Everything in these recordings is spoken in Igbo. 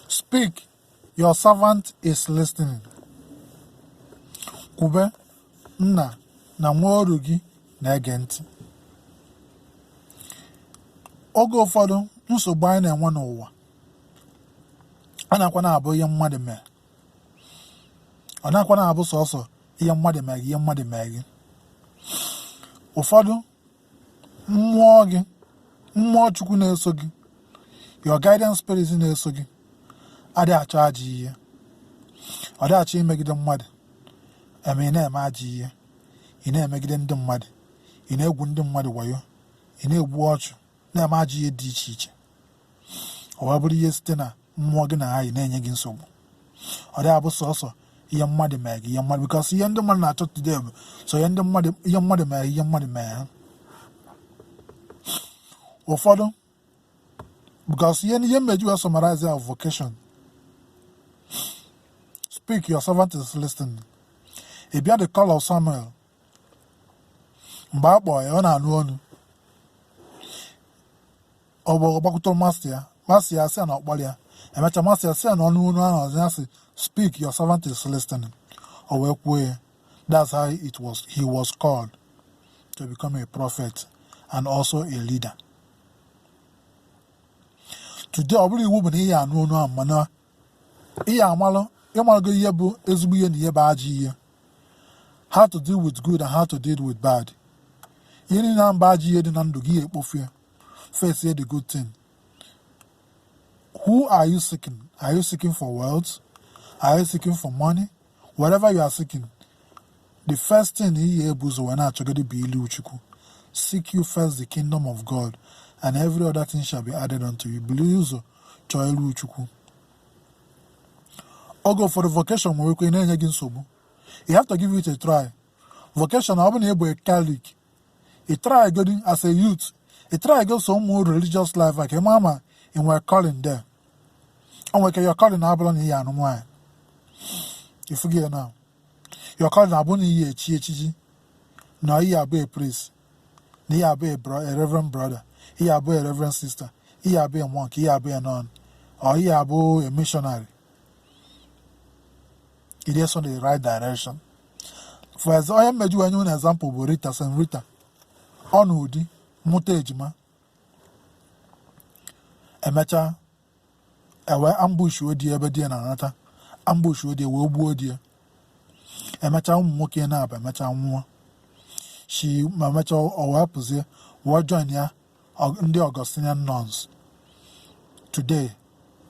Speak, your servant is listening. Kwube, nna na nwa oru gị na-ege ntị. Oge ụfọdụ nsogbu anyị na-enwe n'ụwa a nakwa na-abụ ihe mmadụ mee ọ nakwa na-abụ sọsọ ihe mmadụ mee gị ihe mmadụ mee gị ụfọdụ mmụọ gị mmụọ chukwu na-eso gị your guidance spirit na-eso gị adị achọ ajọ ihe ọ dị achọ imegide mmadụ eme ị na-eme ajọ ihe ị na-emegide ndị mmadụ ị na-egwu ndị mmadụ wayo ị na-egbu ọchụ na-eme ajọ ihe dị iche iche o wee bụrụ ihe site na mmụọ gị na ha yi na-enye gị nsogbu ọ dị abụ sọsọ ihe mmadụ mee gị ihe mmadụ because ihe ndị mmadụ na-achọ today bụ so ihe ndị mmadụ ihe mmadụ mee ihe mmadụ mee ha ụfọdụ because ihe ihe m ji wee summarize our vocation speak your servant is listening ị bịa the call of Samuel mgbe a kpọọ ya ọ na-anụ onu ọ bụ ọ gbakwute master ya master ya sị ya na ọ kpọrọ ya emechaa master ya sị ya na ọ nụ onu ahụ ọzọ ya sị speak your servant is listening o wee kwuo ya that's how he was called to become a prophet and also a leader today ọ bụrọ iwu bụ na ị ya-anụ onu ahụ mana ị ya-amalụ ị malụgo ihe bụ ezigbo ihe na ihe bụ ajọ ihe how to deal with good and how to deal with bad ihe niile ahụ bụ ajọ ihe dị na ndụ gị ị ya-ekpofu ya face the good thing who are you seeking are you seeking for wealth are you seeking for money whatever you are seeking the first thing ị ya-ebu ụzọ wee na-achọgodi bụ ilu chukwu seek you first the kingdom of god and every other thing shall be added unto you buru ụzọ chọọ ilu chukwu oge ụfọdụ vocation nwere ike na-enye gị nsogbu you have to give it a try vocation ọ bụ na ị bụ a catholic ị try godi as a youth ị try go some religious life ka ị ma ma ị nwere calling there o nwere ike your calling abụrụ na ị ya-anụ nwaanyị ị fụgo ya na your calling abụ na ị ya-echi echichi na ị ya-abụ a priest na ị ya-abụ a reverend brother ị ya-abụ a reverend sister ị ya-abụ a monk ị ya-abụ a nun or ị ya-abụ a missionary It is on the right direction. Ọ ya mee ji wee nye unu example bụ Rita Saint Rita ọ nụọ di mụta ejima emechaa e wee ambush-uo di ya ebe di ya na-anata ambush-uo di ya wee gbuo di ya emechaa ụmụ nwoke naabọ emechaa nwụọ shi ma emechaa ọ wee pụzie wee join ya ndị Augustinian nuns today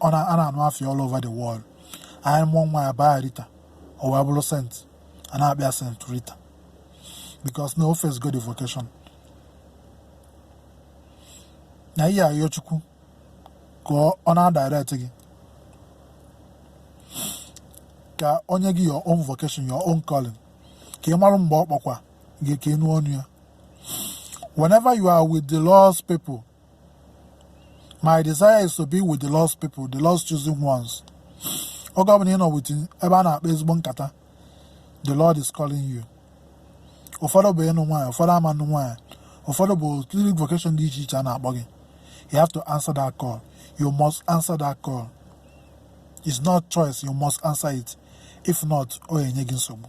a na-anụ afa ya all over the world anyị mụọ nwa ya baa Rita o wee bụrụ sent a na-akpọ ya sent Rita because na o facego the vocation na ị ya-ayọ Chukwu ka ọ na-adirect gị ka o nye gị your own vocation your own calling ka ị marụ mgbe ọ kpọkwa gị ka ị nụ onu ya Whenever you are with the Lord's people, my desire is to be with the Lord's people, the Lord's chosen ones. Oge ọbụla ị nọ with ebe a na-akpa ezigbo nkata, the Lord is calling you. Ụfọdụ bụ ịnụ nwaanyị, ụfọdụ ama anụ nwaanyị, ụfọdụ bụ cleric vocation dị iche iche a na-akpọ gị. You have to answer that call. You must answer that call. It's not choice, you must answer it. If not, ọ enye gị nsogbu.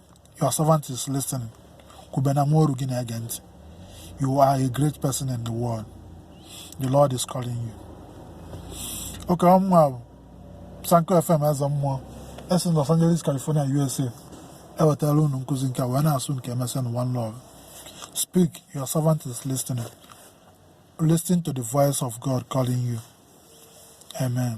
your servant is listening kwube na nwa oru gị na-ege ntị you are a great person in the world the lord is calling you okay ọ mụwa bụ sanko fm eze mmụọ esi los angeles california usa ewetara unu nkụzi nke a wee na-asị unu ka emesịa nụ one love speak your servant is listening listen to the voice of god calling you amen